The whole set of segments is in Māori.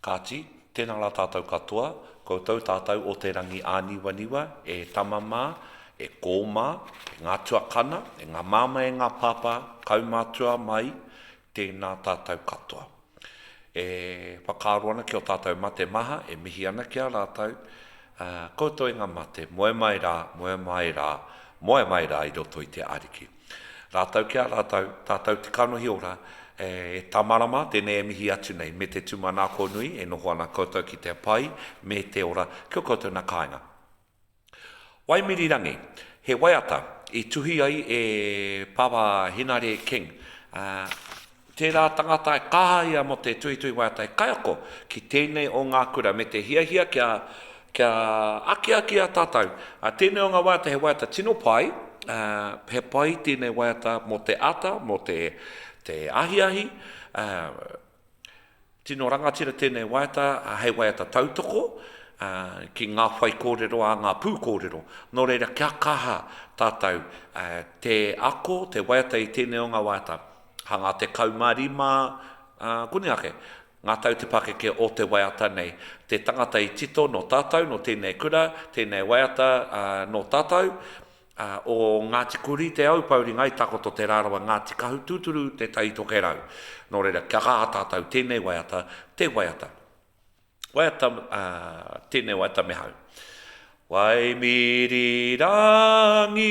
Kāti, tēnā rā tātou katoa, koutou tātou o Te Rangiāniwaniwa, e tama mā, e kō mā, e ngā tuakana, e ngā māmā e ngā pāpā, kaumātua mai, tēnā tātou katoa. E whakaaro ana ki o tātou mate maha, e mihi ana ki a rātou, ā, koutou e ngā mate, moe mai rā, moe mai rā, moe mai rā i roto i te Ariki. Rātou ki a rātou, tātou te kanohi ora, e Tamarama, tēnei e mihi atu nei, me te tūmanako nui, e noho ana koutou ki te pai me te ora ki ō koutou nā kāinga. Waimirirangi, he waiata i tuhi ai e Pāpā Henare King, ā, Tērā tangata e kaha ia mō te tuitui waiata kaiako ki tēnei o ngā kura me te hiahia kia kia akiaki a tātou. Tēnei o ngā waiata he waiata tino pai, he pai tēnei waiata mō te ata, mō te te ahiahi, Tino rangatira tēnei waiata hei waiata tautoko ki ngā whaikōrero a ngā pūkōrero. Nō reira, kia kaha tātou te ako, te waiata i tēnei o ngā waiata. Ka ngā tekau mā rima, koni ake, ngā tau te pakeke o te waiata nei. Te tangata i tito nō tātou, nō tēnei kura, tēnei waiata nō tātou, o Ngāti Kurī te au Pauringa i takoto te rārawa Ngāti Kahu tūturu te tai tokerau nō reira kia kaha tātou tēnei waiata te waiata waiata tēnei waiata me hau Waimirirangi.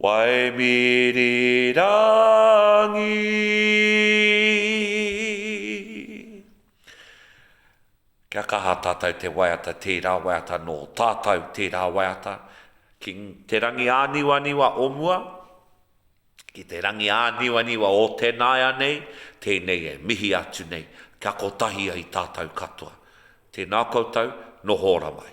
Waimiri rangi Kia kaha tātou te waiata tērā waiata nō tātou tērā waiata ki te rangi āniwaniwa o mua ki te rangi āniwaniwa o te nāianei tēnei e mihi atu nei kia kotahi ai tātou katoa tēnā koutou noho ora mai.